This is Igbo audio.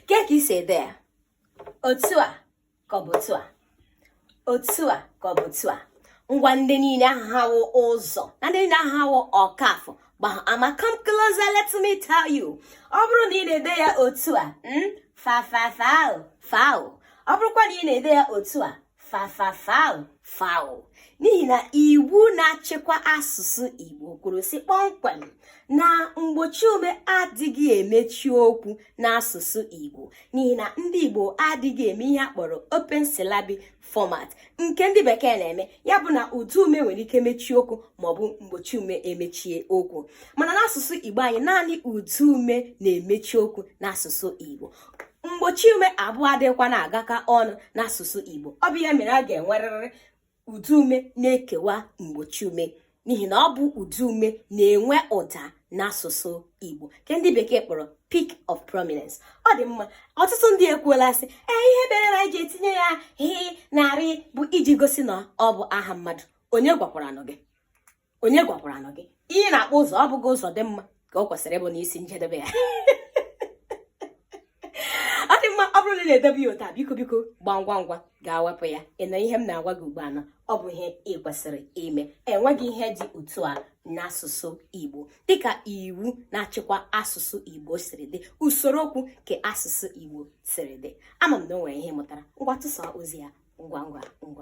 kee ka i si ede ya otu a ka ọ bụ otu a otu a ka ọ bụ otu a ngwa ndị niile ahụ ụzọ na ndị niile ahụ ọkafọ ama come closer let me tell you ọ bụrụ na ị na-ede ya otu a hmm, fa fa fa foul ọ bụrụkwa na ị na-ede ya otu a fa fa fa foul n'ihi na iwu na-achịkwa asụsụ Igbo kwuru sị kpọmkwem na mgbochi ume adịghị emechi okwu n'asụsụ Igbo n'ihi na ndị Igbo adịghị eme ihe a kpọrọ open syllabic format nke ndị bekee na-eme ya bụ na ụda ume nwere ike mechie okwu maọbụ mgbochi ume emechie okwu mana n'asụsụ Igbo anyị naanị ụda ume na-emechi okwu n'asụsụ Igbo mgbochi ume abụọ adịghịkwa na-agakọ ọnụ n'asụsụ Igbo ọ bụ ya mere a ga-enwerịrị ụda ume na-ekewa mgbochi ume n'ihi na ọ bụ ụda ume na-enwe ụda n'asụsụ Igbo nke ndị bekee kpọrọ peak of prominence ọ dị mma ọtụtụ ndị ekwuola sị ee ihe mere na anyị ji etinye ya h na r bụ iji gosi na ọ bụ aha mmadụ onye gwakwaranụ gị onye gwakwaranụ gị ihe a na-akpọ ụzọ ọ bụghị ụzọdịmma ka o kwesịrị ịbụ n'isi njedebe ya ọ dị mma ọ bụrụ na ị na-edebu ya otu a biko biko gbaa ngwa ngwa gaa wepụ ya ị nụ ihe m na-agwa gị ugbu a na ọ bụ ihe ị kwesịrị ime enweghị ihe dị otu a n'asụsụ Igbo dịka iwu na-achịkwa asụsụ Igbo siri dị usoro okwu nke asụsụ Igbo siri dị ama m na o nwere ihe ị mụtara ngwa tụsaa ozi a ngwa ngwa ngwa